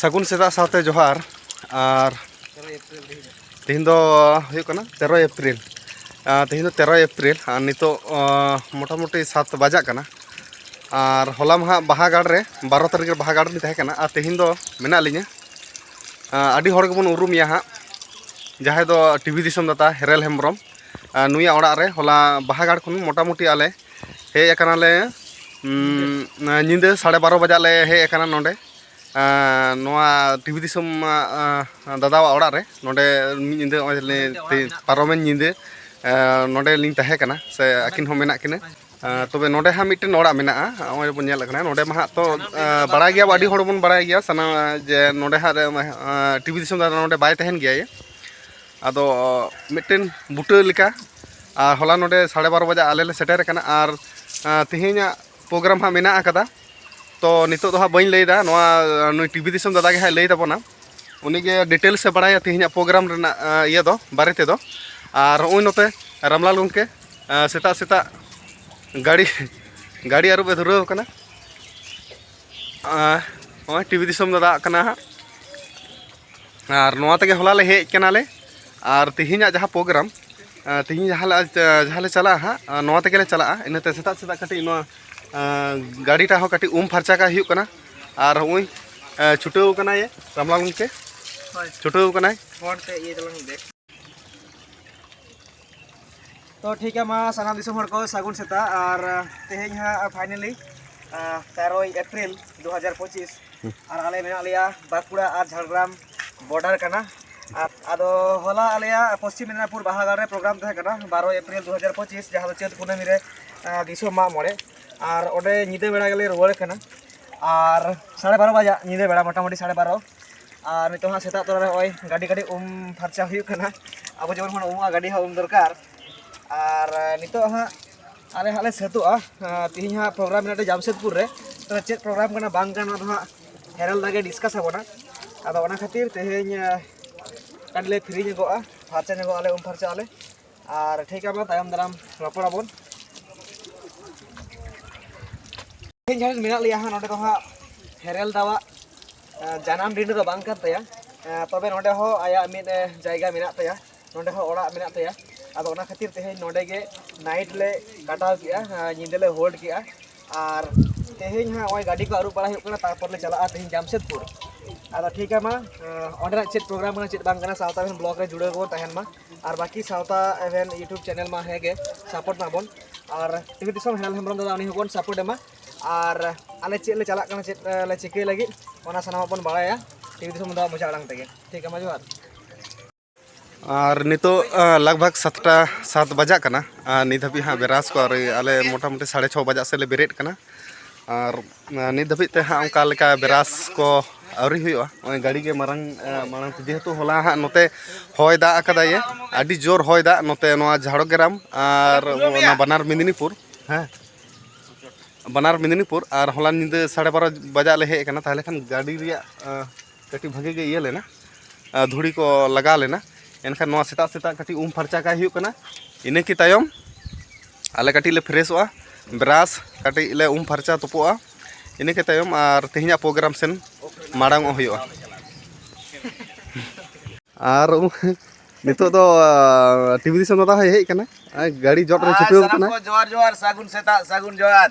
ᱥᱟᱹᱜᱩᱱ ᱥᱮᱛᱟᱜ ᱥᱟᱶᱛᱮ ᱡᱚᱦᱟᱨ ᱟᱨ ᱛᱮᱦᱮᱧ ᱫᱚ ᱦᱩᱭᱩᱜ ᱠᱟᱱᱟ ᱛᱮᱨᱚᱭ ᱮᱯᱨᱤᱞ ᱛᱮᱦᱮᱧ ᱫᱚ ᱛᱮᱨᱚᱭ ᱮᱯᱨᱤᱞ ᱟᱨ ᱱᱤᱛᱚᱜ ᱢᱚᱴᱟᱢᱩᱴᱤ ᱥᱟᱛ ᱵᱟᱡᱟᱜ ᱠᱟᱱᱟ ᱟᱨ ᱦᱚᱞᱟ ᱢᱟᱦᱟ ᱵᱟᱦᱟ ᱜᱟᱲ ᱨᱮ ᱵᱟᱨᱚ ᱛᱟᱹᱨᱤᱠᱷ ᱨᱮ ᱵᱟᱦᱟ ᱜᱟᱲ ᱨᱮᱞᱤᱧ ᱛᱟᱦᱮᱸ ᱠᱟᱱᱟ ᱟᱨ ᱛᱮᱦᱮᱧ ᱫᱚ ᱢᱮᱱᱟᱜ ᱞᱤᱧᱟᱹ ᱟᱹᱰᱤ ᱦᱚᱲ ᱜᱮᱵᱚᱱ ᱩᱨᱩᱢᱮᱭᱟ ᱦᱟᱸᱜ ᱡᱟᱦᱟᱸᱭ ᱫᱚ ᱴᱤᱵᱷᱤ ᱫᱤᱥᱚᱢ ᱫᱟᱛᱟ ᱦᱮᱨᱮᱞ ᱦᱮᱢᱵᱨᱚᱢ ᱱᱩᱭᱟᱜ ᱚᱲᱟᱜ ᱨᱮ ᱦᱚᱞᱟ ᱵᱟᱦᱟ ᱜᱟᱲ ᱠᱷᱚᱱ ᱢᱚᱴᱟᱢᱩᱴᱤ ᱟᱞᱮ ᱦᱮᱡ ᱟᱠᱟᱱᱟᱞᱮ ᱧᱤᱫᱟᱹ ᱥᱟᱲᱮ ᱵᱟᱨᱚ ᱵᱟᱡᱟᱜ ᱞᱮ ᱦᱮᱡ ᱟᱠᱟᱱᱟ ᱱᱚᱰᱮ ᱱᱚᱣᱟ ᱴᱤᱵᱷᱤ ᱫᱤᱥᱚᱢ ᱫᱟᱫᱟᱣᱟᱜ ᱚᱲᱟᱜ ᱨᱮ ᱱᱚᱰᱮ ᱢᱤᱫ ᱧᱤᱫᱟᱹ ᱱᱚᱜᱼᱚᱭ ᱯᱟᱨᱚᱢᱮᱱ ᱧᱤᱫᱟᱹ ᱱᱚᱰᱮ ᱞᱤᱧ ᱛᱟᱦᱮᱸ ᱠᱟᱱᱟ ᱥᱮ ᱟᱹᱠᱤᱱ ᱦᱚᱸ ᱢᱮᱱᱟᱜ ᱠᱤᱱᱟ ᱛᱚᱵᱮ ᱱᱚᱰᱮ ᱦᱟᱸᱜ ᱢᱤᱫᱴᱮᱱ ᱚᱲᱟᱜ ᱢᱮᱱᱟᱜᱼᱟ ᱱᱚᱜᱼᱚᱭ ᱵᱚᱱ ᱧᱮᱞ ᱠᱟᱱᱟ ᱱᱚᱰᱮ ᱢᱟ ᱦᱟᱸᱜ ᱛᱚ ᱵᱟᱲᱟᱭ ᱜᱮᱭᱟ ᱟᱹᱰᱤ ᱦᱚᱲ ᱵᱚᱱ ᱵᱟᱲᱟᱭ ᱜᱮᱭᱟ ᱥᱟᱱᱟᱢ ᱡᱮ ᱱᱚᱰᱮ ᱦᱟᱸᱜ ᱴᱤᱵᱷᱤ ᱫᱤᱥᱚᱢ ᱫᱟᱫᱟ ᱱᱚᱰᱮ ᱵᱟᱭ ᱛᱟᱦᱮᱱ ᱜᱮᱭᱟ ᱟᱫᱚ ᱢᱤᱫᱴᱮᱱ ᱵᱩᱴᱟᱹ ᱞᱮᱠᱟ ᱟᱨ ᱦᱚᱞᱟ ᱱᱚᱰᱮ ᱥᱟᱲᱮ ᱵᱟᱨᱚ ᱵᱟᱡᱟᱜ ᱟᱞᱮ ᱞᱮ ᱥᱮᱴᱮᱨ ᱟᱠᱟᱱᱟ ᱟᱨ ᱛᱮᱦᱮᱧᱟᱜ ᱯᱨᱳᱜᱨᱟᱢ ᱦᱟᱸᱜ ᱢᱮᱱᱟᱜ ᱟᱠᱟᱫᱟ ᱛᱚ ᱱᱤᱛᱚᱜ ᱫᱚ ᱦᱟᱸᱜ ᱵᱟᱹᱧ ᱞᱟᱹᱭᱫᱟ ᱱᱚᱣᱟ ᱱᱩᱭ ᱴᱤᱵᱷᱤ ᱫᱤᱥᱚᱢ ᱫᱟᱫᱟ ᱜᱮ ᱦᱟᱸᱜ ᱞᱟᱹᱭ ᱛᱟᱵᱚᱱᱟ ᱩᱱᱤᱜᱮ ᱰᱤᱴᱮᱞᱥ ᱮ ᱵᱟᱲᱟᱭᱟ ᱛᱮᱦᱮᱧᱟᱜ ᱯᱨᱳᱜᱨᱟᱢ ᱨᱮᱱᱟᱜ ᱤᱭᱟᱹ ᱫᱚ ᱵᱟᱨᱮ ᱛᱮᱫᱚ ᱟᱨ ᱱᱚᱜᱼᱚᱭ ᱱᱚᱛᱮ ᱨᱟᱢᱞᱟᱞ ᱜᱚᱢᱠᱮ ᱥᱮᱛᱟᱜ ᱥᱮᱛᱟᱜ ᱜᱟᱹᱰᱤ ᱜᱟᱹᱰᱤ ᱟᱹᱨᱩᱵ ᱮ ᱫᱷᱩᱨᱟᱹᱣ ᱟᱠᱟᱱᱟ ᱱᱚᱜᱼᱚᱭ ᱴᱤᱵᱷᱤ ᱫᱤᱥᱚᱢ ᱫᱟᱫᱟ ᱠᱟᱱᱟ ᱦᱟᱸᱜ ᱟᱨ ᱱᱚᱣᱟ ᱛᱮᱜᱮ ᱦᱚᱞᱟ ᱞᱮ ᱦᱮᱡ ᱠᱟᱱᱟᱞᱮ ᱟᱨ ᱛᱮᱦᱮᱧᱟᱜ ᱡᱟᱦᱟᱸ ᱯᱨᱳᱜᱨᱟᱢ ᱛᱮᱦᱮᱧ ᱡᱟᱦᱟᱸ ᱡᱟᱦᱟᱸ ᱞᱮ ᱪᱟᱞᱟᱜᱼᱟ ᱦᱟᱸᱜ ᱱᱚᱣᱟ ᱛᱮᱜᱮ ᱞᱮ ᱪᱟᱞᱟᱜᱼᱟ ᱤᱱᱟᱹᱛᱮ ᱥᱮᱛᱟᱜ ᱥᱮᱛᱟᱜ ᱠᱟᱹᱴᱤᱡ ᱱᱚᱣᱟ ᱜᱟᱹᱰᱤᱴᱟ ᱦᱚᱸ ᱠᱟᱹᱴᱤᱡ ᱩᱢ ᱯᱷᱟᱨᱪᱟ ᱠᱟᱜ ᱦᱩᱭᱩᱜ ᱠᱟᱱᱟ ᱟᱨ ᱦᱚᱸᱜᱼᱚᱭ ᱪᱷᱩᱴᱟᱹᱣ ᱠᱟᱱᱟᱭ ᱨᱟᱢᱞᱟᱞ ᱜᱚᱢᱠᱮ ᱪᱷᱩᱴᱟᱹᱣ ᱠᱟᱱᱟᱭ ᱛᱚ ᱴᱷᱤᱠ ᱜᱮᱭᱟ ᱢᱟ ᱥᱟᱱᱟᱢ ᱫᱤᱥᱚᱢ ᱦᱚᱲ ᱠᱚ ᱥᱟᱹᱜᱩᱱ ᱥᱮᱛᱟᱜ ᱟᱨ ᱛᱮᱦᱮᱧ ᱦᱟᱸᱜ ᱯᱷᱟᱭᱱᱮᱞᱤ ᱛᱮᱨᱳᱭ ᱮᱯᱨᱤᱞ ᱫᱩ ᱦᱟᱡᱟᱨ ᱯᱚᱸᱪᱤᱥ ᱟᱨ ᱟᱞᱮ ᱢᱮᱱᱟᱜ ᱞᱮᱭᱟ ᱵᱟᱸᱠᱩᱲᱟ ᱟᱨ ᱡᱷᱟᱲᱜᱨᱟᱢ ᱵᱚᱰᱟᱨ ᱠᱟᱱᱟ ᱟᱫᱚ ᱦᱚᱞᱟ ᱟᱞᱮᱭᱟᱜ ᱯᱚᱥᱪᱤᱢ ᱢᱮᱫᱽᱱᱟᱯᱩᱨ ᱵᱟᱦᱟᱜᱟᱲ ᱨᱮ ᱯᱨᱳᱜᱨᱟᱢ ᱛᱟᱦᱮᱸ ᱠᱟᱱᱟ ᱵᱟᱨᱳᱭ ᱮᱯᱨᱤᱞ ᱫᱩ ᱦᱟᱡᱟᱨ ᱯᱚᱸᱪᱤᱥ ᱡᱟᱦᱟᱸ ᱫᱚ ᱪᱟᱹᱛ ᱠᱩᱱᱟᱹᱢᱤ ᱨᱮ ᱫᱤᱥᱚᱢ ᱢᱟᱜ ᱢᱚᱬᱮ ᱟᱨ ᱚᱸᱰᱮ ᱧᱤᱫᱟᱹ ᱵᱮᱲᱟ ᱜᱮᱞᱮ ᱨᱩᱣᱟᱹᱲ ᱠᱟᱱᱟ ᱟᱨ ᱥᱟᱲᱮ ᱵᱟᱨᱚ ᱵᱟᱡᱟᱜ ᱧᱤᱫᱟᱹ ᱵᱮᱲᱟ ᱢᱚᱴᱟᱢᱩᱴᱤ ᱥᱟᱲᱮ ᱵᱟᱨᱚ ᱟᱨ ᱱᱤᱛᱚᱜ ᱦᱟᱸᱜ ᱥᱮᱛᱟᱜ ᱛᱚᱨᱟ ᱨᱮ ᱱᱚᱜᱼᱚᱭ ᱜᱟᱹᱰᱤ ᱜᱟᱹᱰᱤ ᱩᱢ ᱯᱷᱟᱨᱪᱟ ᱦᱩᱭᱩᱜ ᱠᱟᱱᱟ ᱟᱵᱚ ᱡᱮᱢᱚᱱ ᱵᱚᱱ ᱩᱢᱩᱜᱼᱟ ᱜᱟᱹᱰᱤ ᱦᱚᱸ ᱩᱢ ᱫᱚᱨᱠᱟᱨ ᱟᱨ ᱱᱤᱛᱚᱜ ᱦᱟᱸᱜ ᱟᱞᱮ ᱦᱟᱸᱜ ᱞᱮ ᱥᱟᱹᱛᱚᱜᱼᱟ ᱛᱮᱦᱮᱧ ᱦᱟᱸᱜ ᱯᱨᱳᱜᱨᱟᱢ ᱢᱮᱱᱟᱜ ᱞᱮᱭᱟ ᱡᱟᱢᱥᱮᱫᱽᱯᱩᱨ ᱨᱮ ᱛᱚ ᱪᱮᱫ ᱯᱨᱳᱜᱨᱟᱢ ᱠᱟᱱᱟ ᱵᱟᱝ ᱠᱟᱱᱟ ᱚᱱᱟ ᱫᱚ ᱦᱟᱸᱜ ᱦᱮᱨᱟᱞ ᱫᱟᱜᱮ ᱰᱤᱥᱠᱟᱥ ᱟᱵᱚᱱᱟ ᱟᱫᱚ ᱚᱱᱟ ᱠᱷᱟᱹᱛᱤᱨ ᱛᱮᱦᱮᱧ ᱠᱟᱹᱴᱤᱡ ᱞᱮ ᱯᱷᱨᱤ ᱧᱚᱜᱚᱜᱼᱟ ᱯᱷᱟᱨᱪᱟ ᱧᱚᱜᱚᱜ ᱟᱞᱮ ᱩᱢ ᱯᱷᱟᱨᱪᱟᱜ ᱟᱞᱮ ᱟᱨ ᱴᱷᱤᱠ ᱟᱵᱚᱱ ᱛᱟᱭᱚᱢ ᱫᱟᱨᱟᱢ ᱨᱚᱯᱚᱲ ᱟᱵᱚᱱ ᱛᱮᱦᱮᱧ ᱡᱟᱦᱟᱸ ᱢᱮᱱᱟᱜ ᱞᱮᱭᱟ ᱦᱟᱸᱜ ᱱᱚᱰᱮ ᱫᱚ ᱦᱟᱸᱜ ᱦᱮᱨᱮᱞ ᱫᱟᱣᱟᱜ ᱡᱟᱱᱟᱢ ᱰᱤᱰᱟᱹ ᱫᱚ ᱵᱟᱝ ᱠᱟᱱ ᱛᱟᱭᱟ ᱛᱚᱵᱮ ᱱᱚᱰᱮ ᱦᱚᱸ ᱟᱭᱟᱜ ᱢᱤᱫ ᱡᱟᱭᱜᱟ ᱢᱮᱱᱟᱜ ᱛᱟᱭᱟ ᱱᱚᱰᱮ ᱦᱚᱸ ᱚᱲᱟᱜ ᱢᱮᱱᱟᱜ ᱛᱟᱭᱟ ᱟᱫᱚ ᱚᱱᱟ ᱠᱷᱟᱹᱛᱤᱨ ᱛᱮᱦᱮᱧ ᱱᱚᱰᱮ ᱜᱮ ᱱᱟᱭᱤᱴ ᱞᱮ ᱠᱟᱴᱟᱣ ᱠᱮᱜᱼᱟ ᱧᱤᱫᱟᱹ ᱞᱮ ᱦᱳᱞᱰ ᱠᱮᱜᱼᱟ ᱟᱨ ᱛᱮᱦᱮᱧ ᱦᱟᱸᱜ ᱱᱚᱜᱼᱚᱭ ᱜᱟᱹᱰᱤ ᱠᱚ ᱟᱹᱨᱩᱵ ᱵᱟᱲᱟ ᱦᱩᱭᱩᱜ ᱠᱟᱱᱟ ᱛᱟᱨᱯᱚᱨ ᱞᱮ ᱪᱟᱞᱟᱜᱼᱟ ᱛᱮᱦᱮᱧ ᱡᱟᱢᱥᱮᱫᱽᱯᱩᱨ ᱟᱫᱚ ᱴᱷᱤᱠ ᱜᱮᱭᱟ ᱢᱟ ᱚᱸᱰᱮᱱᱟᱜ ᱪᱮᱫ ᱯᱨᱳᱜᱨᱟᱢ ᱠᱟᱱᱟ ᱪᱮᱫ ᱵᱟᱝ ᱠᱟᱱᱟ ᱥᱟᱶᱛᱟ ᱵᱞᱚᱜᱽ ᱨᱮ ᱡᱩᱲᱟᱹᱣ ᱵᱚᱱ ᱛᱟᱦᱮᱱ ᱢᱟ ᱟᱨ ᱵᱟᱹᱠᱤ ᱥᱟᱶᱛᱟ ᱮᱵᱷᱮᱱ ᱤᱭᱩᱴᱩᱵᱽ ᱪᱮᱱᱮᱞ ᱢᱟ ᱦᱮᱸ ᱜᱮ ᱥᱟᱯᱳᱨᱴ ᱢᱟᱵᱚᱱ ᱟᱨ ᱴᱤᱵᱷᱤ ᱫᱤᱥᱚᱢ ᱦᱮᱞ ᱦᱮᱢᱵᱨᱚᱢ ᱫᱟᱫᱟ ᱩᱱᱤ ᱦᱚᱸᱵᱚᱱ ᱥᱟᱯᱳᱨᱴ ᱮᱢᱟ ᱟᱨ ᱟᱞᱮ ᱪᱮᱫ ᱞᱮ ᱪᱟᱞᱟᱜ ᱠᱟᱱᱟ ᱪᱮᱫ ᱞᱮ ᱪᱤᱠᱟᱹᱭ ᱞᱟᱹᱜᱤᱫ ᱚᱱᱟ ᱥᱟᱱᱟᱢᱟᱜ ᱵᱚᱱ ᱵᱟᱲᱟᱭᱟ ᱴᱤᱵᱷᱤ ᱫᱤᱥᱚᱢ ᱫᱟᱫᱟ ᱢᱚᱡᱟ ᱟᱲᱟᱝ ᱛᱮᱜᱮ ᱴᱷᱤᱠ ᱜᱮᱭᱟ ᱢᱟ ᱡᱚᱦᱟᱨ ᱟᱨ ᱱᱤᱛᱚᱜ ᱞᱟᱜᱽ ᱵᱷᱟᱜᱽ ᱥᱟᱛᱴᱟ ᱥᱟᱛ ᱵᱟᱡᱟᱜ ᱠᱟᱱᱟ ᱟᱨ ᱱᱤᱛ ᱦᱟᱹᱵᱤᱡ ᱦᱟᱸᱜ ᱵᱮᱨᱟᱥ ᱠᱚ ᱟᱨ ᱟᱞᱮ ᱢᱚᱴᱟᱢᱩᱴᱤ ᱥᱟᱲᱮ ᱪᱷᱚ ᱵᱟᱡᱟᱜ ᱥᱮᱫ ᱞᱮ ᱵᱮᱨᱮᱫ ᱠᱟᱱᱟ ᱟᱨ ᱱᱤᱛ ᱫᱷᱟᱹᱵᱤᱡ ᱛᱮ ᱦᱟᱸᱜ ᱚᱱᱠᱟ ᱞᱮᱠᱟ ᱵᱮᱨᱟᱥ ᱠᱚ ᱟᱹᱣᱨᱤ ᱦᱩᱭᱩᱜᱼᱟ ᱱᱚᱜᱼᱚᱭ ᱜᱟᱹᱰᱤ ᱜᱮ ᱢᱟᱨᱟᱝ ᱢᱟᱲᱟᱝ ᱛᱮ ᱡᱮᱦᱮᱛᱩ ᱦᱚᱞᱟ ᱦᱟᱸᱜ ᱱᱚᱛᱮ ᱦᱚᱭ ᱫᱟᱜ ᱟᱠᱟᱫᱟᱭ ᱟᱹᱰᱤ ᱡᱳᱨ ᱦᱚᱭ ᱫᱟᱜ ᱱᱚᱛᱮ ᱱᱚᱣᱟ ᱡᱷᱟᱲᱜᱨᱟᱢ ᱟᱨ ᱚᱱᱟ ᱵᱟᱱᱟᱨ ᱢᱮᱫᱤᱱᱤᱯᱩᱨ ᱦᱮᱸ ᱵᱟᱱᱟᱨ ᱢᱮᱫᱤᱱᱤᱯᱩᱨ ᱟᱨ ᱦᱚᱞᱟ ᱧᱤᱫᱟᱹ ᱥᱟᱲᱮ ᱵᱟᱨᱚ ᱵᱟᱡᱟᱜ ᱞᱮ ᱦᱮᱡ ᱟᱠᱟᱱᱟ ᱛᱟᱦᱚᱞᱮ ᱠᱷᱟᱱ ᱜᱟᱹᱰᱤ ᱨᱮᱭᱟᱜ ᱠᱟᱹᱴᱤᱡ ᱵᱷᱟᱜᱮ ᱜᱮ ᱤᱭᱟᱹ ᱞᱮᱱᱟ ᱫᱷᱩᱲᱤ ᱠᱚ ᱞᱟᱜᱟᱣ ᱞᱮᱱᱟ ᱮᱱᱠᱷᱟᱱ ᱱᱚᱣᱟ ᱥᱮᱛᱟᱜ ᱥᱮᱛᱟᱜ ᱠᱟᱹᱴᱤᱡ ᱩᱢ ᱯᱷᱟᱨᱪᱟ ᱠᱟᱭ ᱦᱩᱭᱩᱜ ᱠᱟᱱᱟ ᱤᱱᱟᱹ ᱠᱤ ᱛᱟᱭᱚᱢ ᱟᱞᱮ ᱠᱟᱹᱴᱤᱡ ᱞᱮ ᱯᱷᱨᱮᱥᱚᱜᱼᱟ ᱵᱨᱟᱥ ᱠᱟᱹᱴᱤᱡ ᱞᱮ ᱩᱢ ᱯᱷᱟᱨᱪᱟ ᱛᱩᱯᱩᱜᱼᱟ ᱤᱱᱟᱹ ᱠᱤ ᱛᱟᱭᱚᱢ ᱟᱨ ᱛᱮᱦᱮᱧᱟᱜ ᱯᱨᱳᱜᱨᱟᱢ ᱥᱮᱱ ᱢᱟᱲᱟᱝ ᱚᱜ ᱦᱩᱭᱩᱜᱼᱟ ᱟᱨ ᱱᱤᱛᱚᱜ ᱫᱚ ᱴᱤᱵᱷᱤ ᱫᱤᱥᱚᱢ ᱫᱟᱫᱟ ᱦᱚᱸᱭ ᱦᱮᱡ ᱠᱟᱱᱟ ᱜᱟᱹᱲᱤ ᱡᱚᱜ ᱨᱮ ᱪᱷᱩᱴᱟᱹᱣ ᱠᱟᱱᱟ ᱡᱚᱦᱟᱨ ᱡᱚᱦᱟᱨ ᱥᱟᱹᱜᱩᱱ ᱥᱮᱛᱟᱜ ᱥᱟᱹᱜᱩᱱ ᱡᱚᱦᱟᱨ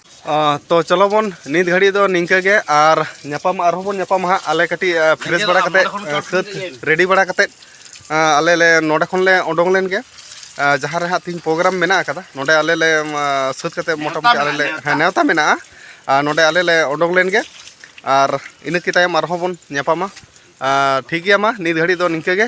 ᱛᱚ ᱪᱚᱞᱚ ᱵᱚᱱ ᱱᱤᱛ ᱜᱷᱟᱹᱲᱤᱡ ᱫᱚ ᱱᱤᱝᱠᱟᱹ ᱜᱮ ᱟᱨ ᱧᱟᱯᱟᱢ ᱟᱨᱦᱚᱸ ᱵᱚᱱ ᱧᱟᱯᱟᱢᱟ ᱦᱟᱸᱜ ᱟᱞᱮ ᱠᱟᱹᱴᱤᱡ ᱯᱷᱨᱮᱥ ᱵᱟᱲᱟ ᱠᱟᱛᱮᱫ ᱥᱟᱹᱛ ᱨᱮᱰᱤ ᱵᱟᱲᱟ ᱠᱟᱛᱮᱫ ᱟᱞᱮ ᱞᱮ ᱱᱚᱰᱮ ᱠᱷᱚᱱ ᱞᱮ ᱚᱰᱚᱝ ᱞᱮᱱ ᱜᱮ ᱡᱟᱦᱟᱸ ᱨᱮ ᱦᱟᱸᱜ ᱛᱤᱦᱤᱧ ᱯᱨᱳᱜᱨᱟᱢ ᱢᱮᱱᱟᱜ ᱟᱠᱟᱫᱟ ᱱᱚᱰᱮ ᱟᱞᱮ ᱞᱮ ᱥᱟᱹᱛ ᱠᱟᱛᱮᱫ ᱢᱚᱴᱟᱢᱩᱴᱤ ᱟᱞᱮ ᱞᱮ ᱦᱮᱸ ᱱᱮᱣᱛᱟ ᱢᱮᱱᱟᱜᱼᱟ ᱟᱨ ᱱᱚᱰᱮ ᱟᱞᱮ ᱞᱮ ᱚᱰᱚᱝ ᱞᱮᱱ ᱜᱮ ᱟᱨ ᱤᱱᱟᱹ ᱠᱤ ᱛᱟᱭᱚᱢ ᱟᱨᱦᱚᱸ ᱵᱚᱱ ᱧᱟᱯᱟᱢᱟ ᱴᱷᱤᱠ ᱜᱮᱭᱟ ᱢᱟ ᱱᱤᱛ ᱜᱷᱟᱹᱲᱤᱡ ᱫᱚ ᱱᱤᱝᱠᱟᱹ ᱜᱮ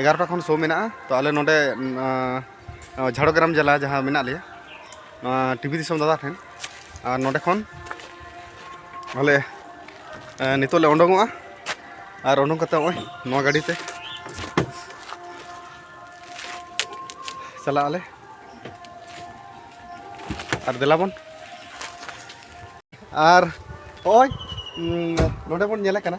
ᱮᱜᱟᱨᱚᱴᱟ ᱠᱷᱚᱱ ᱥᱳ ᱢᱮᱱᱟᱜᱼᱟ ᱛᱚ ᱟᱞᱮ ᱱᱚᱰᱮ ᱡᱷᱟᱲᱜᱨᱟᱢ ᱡᱮᱞᱟ ᱡᱟᱦᱟᱸ ᱢᱮᱱᱟᱜ ᱞᱮᱭᱟ ᱱᱚᱣᱟ ᱴᱤᱵᱷᱤ ᱫᱤᱥᱚᱢ ᱫᱟᱫᱟ ᱴᱷᱮᱱ ᱟᱨ ᱱᱚᱰᱮ ᱠᱷᱚᱱ ᱟᱞᱮ ᱱᱤᱛᱚᱜ ᱞᱮ ᱩᱰᱩᱝᱚᱜᱼᱟ ᱟᱨ ᱩᱰᱩᱝ ᱠᱟᱛᱮ ᱱᱚᱜᱼᱚᱭ ᱱᱚᱣᱟ ᱜᱟᱹᱰᱤ ᱛᱮ ᱪᱟᱞᱟᱜ ᱟᱞᱮ ᱟᱨ ᱫᱮᱞᱟ ᱵᱚᱱ ᱟᱨ ᱱᱚᱜᱼᱚᱭ ᱱᱚᱰᱮ ᱵᱚᱱ ᱧᱮᱞᱮ ᱠᱟᱱᱟ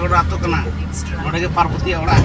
ᱜᱚᱰᱟ ᱟᱛᱳ ᱠᱟᱱᱟ ᱱᱚᱰᱮ ᱜᱮ ᱯᱟᱨᱵᱚᱛᱤᱭᱟᱜ ᱚᱲᱟᱜ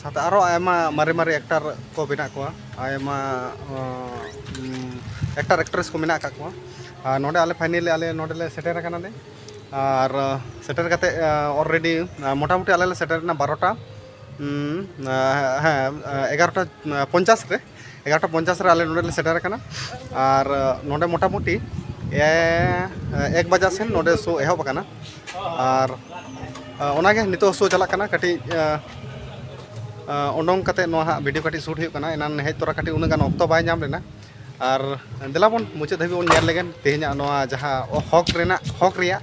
ᱥᱟᱶᱛᱮ ᱟᱨᱚ ᱟᱭᱢᱟ ᱢᱟᱨᱮ ᱢᱟᱨᱮ ᱮᱠᱴᱟᱨ ᱠᱚ ᱢᱮᱱᱟᱜ ᱠᱚᱣᱟ ᱟᱭᱢᱟ ᱮᱠᱴᱟᱨ ᱮᱠᱴᱨᱮᱥ ᱠᱚ ᱢᱮᱱᱟᱜ ᱟᱠᱟᱫ ᱠᱚᱣᱟ ᱟᱨ ᱱᱚᱰᱮ ᱟᱞᱮ ᱯᱷᱟᱭᱱᱮᱞᱤ ᱟᱞᱮ ᱱᱚᱰᱮ ᱞᱮ ᱥᱮᱴᱮᱨ ᱟᱠᱟᱱᱟ ᱞᱮ ᱟᱨ ᱥᱮᱴᱮᱨ ᱠᱟᱛᱮᱫ ᱚᱞᱨᱮᱰᱤ ᱢᱳᱴᱟᱢᱩᱴᱤ ᱟᱞᱮ ᱞᱮ ᱥᱮᱴᱮᱨᱮᱱᱟ ᱵᱟᱨᱚᱴᱟ ᱦᱮᱸ ᱮᱜᱟᱨᱚᱴᱟ ᱯᱚᱧᱪᱟᱥ ᱨᱮ ᱮᱜᱟᱨᱚᱴᱟ ᱯᱚᱧᱪᱟᱥ ᱨᱮ ᱟᱞᱮ ᱱᱚᱰᱮ ᱞᱮ ᱥᱮᱴᱮᱨ ᱟᱠᱟᱱᱟ ᱟᱨ ᱱᱚᱰᱮ ᱢᱚᱴᱟᱢᱩᱴᱤ ᱮᱠ ᱵᱟᱡᱟ ᱥᱮᱱ ᱱᱚᱰᱮ ᱥᱳ ᱮᱦᱚᱵ ᱟᱠᱟᱱᱟ ᱟᱨ ᱚᱱᱟᱜᱮ ᱱᱤᱛᱚᱜ ᱥᱳ ᱪᱟᱞᱟᱜ ᱠᱟᱱᱟ ᱠᱟᱹᱴᱤᱡ ᱚᱰᱚᱝ ᱠᱟᱛᱮ ᱱᱚᱣᱟ ᱦᱟᱸᱜ ᱵᱷᱤᱰᱤᱭᱳ ᱠᱟᱹᱴᱤᱡ ᱥᱩᱴ ᱦᱩᱭᱩᱜ ᱠᱟᱱᱟ ᱮᱱᱟᱱ ᱦᱮᱡ ᱛᱚᱨᱟ ᱠᱟᱹᱴᱤᱡ ᱩᱱᱟᱹᱜ ᱜᱟᱱ ᱚᱠᱛᱚ ᱵᱟᱭ ᱧᱟᱢ ᱞᱮᱱᱟ ᱟᱨ ᱫᱮᱞᱟ ᱵᱚᱱ ᱢᱩᱪᱟᱹᱫ ᱫᱷᱟᱹᱵᱤᱡ ᱵᱚᱱ ᱧᱮᱞ ᱞᱮᱜᱮ ᱛᱮᱦᱮᱧᱟᱜ ᱱᱚᱣᱟ ᱡᱟᱦᱟᱸ ᱦᱚᱠ ᱨᱮᱱᱟᱜ ᱦᱚᱠ ᱨᱮᱭᱟᱜ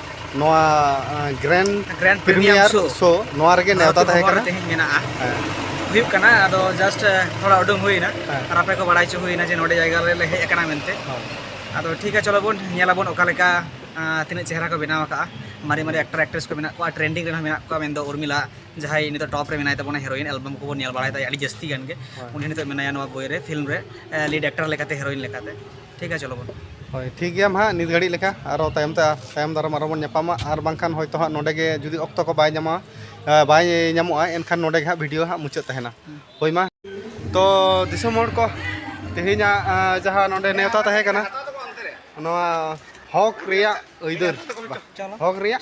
ᱱᱚᱣᱟ ᱜᱨᱮᱱᱰ ᱜᱨᱮᱱᱰ ᱯᱨᱤᱢᱤᱭᱟᱨ ᱥᱳ ᱱᱚᱣᱟ ᱨᱮᱜᱮ ᱱᱮᱣᱛᱟ ᱛᱟᱦᱮᱸ ᱠᱟᱱᱟ ᱛᱮᱦᱮᱧ ᱢᱮᱱᱟᱜᱼᱟ ᱦᱩᱭᱩᱜ ᱠᱟᱱᱟ ᱟᱫᱚ ᱡᱟᱥᱴ ᱛᱷᱚᱲᱟ ᱩᱰᱩᱝ ᱦᱩᱭᱱᱟ ᱟᱨ ᱟᱯᱮ ᱠᱚ ᱵᱟᱲᱟᱭ ᱪᱚ ᱦᱩᱭᱱᱟ ᱡᱮ ᱱᱚᱰᱮ ᱡᱟᱭᱜᱟ ᱨᱮᱞᱮ ᱦᱮᱡ ᱟᱠᱟᱱᱟ ᱢᱮᱱᱛᱮ ᱟᱫᱚ ᱴᱷᱤᱠ ᱟ ᱪᱚᱞᱚ ᱵᱚᱱ ᱧᱮᱞᱟ ᱵᱚᱱ ᱚᱠᱟ ᱞᱮᱠᱟ ᱛᱤᱱᱟᱹᱜ ᱪᱮᱦᱨᱟ ᱠᱚ ᱵᱮᱱᱟᱣ ᱟᱠᱟᱜᱼᱟ ᱢᱟᱨᱮ ᱢᱟᱨᱮ ᱮᱠᱴᱟᱨ ᱮᱠᱴᱨᱮᱥ ᱠᱚ ᱢᱮᱱᱟᱜ ᱠᱚᱣᱟ ᱴᱨᱮᱱᱰᱤᱝ ᱨᱮ ᱢᱮᱱᱟᱜ ᱠᱚᱣᱟ ᱢᱮᱱᱫᱚ ᱩᱨᱢᱤᱞᱟ ᱡᱟᱦᱟᱸᱭ ᱱᱤᱛᱚᱜ ᱴᱚᱯ ᱨᱮ ᱢᱮᱱᱟᱭ ᱛᱟᱵᱚᱱᱟ ᱦᱮᱨᱳᱭᱤᱱ ᱮᱞᱵᱟᱢ ᱠᱚᱵᱚᱱ ᱧᱮᱞ ᱵᱟᱲᱟᱭ ᱛᱟᱭᱟ ᱟᱹᱰᱤ ᱡᱟᱹᱥᱛᱤ ᱜᱟᱱ ᱜᱮ ᱩᱱᱤ ᱱᱤᱛᱚᱜ ᱢᱮᱱᱟᱭᱟ ᱱᱚᱣᱟ ᱵᱳᱭ ᱨᱮ ᱯᱷᱤᱞᱢ ᱨᱮ ᱞᱤᱰ ᱮᱠᱴᱟᱨ ᱞᱮᱠᱟᱛᱮ ᱦᱮᱨᱳᱭᱤᱱ ᱞᱮᱠᱟᱛᱮ ᱴᱷᱤᱠ ᱜᱮᱭᱟ ᱪᱚᱞᱚ ᱵᱚᱱ ᱦᱳᱭ ᱴᱷᱤᱠ ᱜᱮᱭᱟ ᱦᱟᱸᱜ ᱱᱤᱛ ᱜᱷᱟᱹᱲᱤᱡ ᱞᱮᱠᱟ ᱟᱨᱚ ᱛᱟᱭᱚᱢ ᱛᱮ ᱛᱟᱭᱚᱢ ᱫᱟᱨᱟᱢ ᱟᱨᱚ ᱵᱚᱱ ᱧᱟᱯᱟᱢᱟ ᱟᱨ ᱵᱟᱝᱠᱷᱟᱱ ᱦᱚᱭᱛᱳ ᱦᱟᱸᱜ ᱱᱚᱰᱮ ᱜᱮ ᱡᱩᱫᱤ ᱚᱠᱛᱚ ᱠᱚ ᱵᱟᱭ ᱧᱟᱢᱟ ᱵᱟᱭ ᱧᱟᱢᱚᱜᱼᱟ ᱮᱱᱠᱷᱟᱱ ᱱᱚᱰᱮ ᱜᱮ ᱦᱟᱸᱜ ᱵᱷᱤᱰᱤᱭᱳ ᱦᱟᱸᱜ ᱢᱩᱪᱟᱹᱫ ᱛᱟᱦᱮᱱᱟ ᱦᱳᱭ ᱢᱟ ᱛᱚ ᱫᱤᱥᱚᱢ ᱦᱚᱲ ᱠᱚ ᱛᱮᱦᱮᱧᱟᱜ ᱡᱟᱦᱟᱸ ᱱᱚᱰᱮ ᱱᱮᱣᱛᱟ ᱛᱟᱦᱮᱸ ᱠᱟᱱᱟ ᱱᱚᱣᱟ ᱦᱚᱠ ᱨᱮᱭᱟᱜ ᱟᱹᱭᱫᱟᱹᱨ ᱦᱚᱠ ᱨᱮᱭᱟᱜ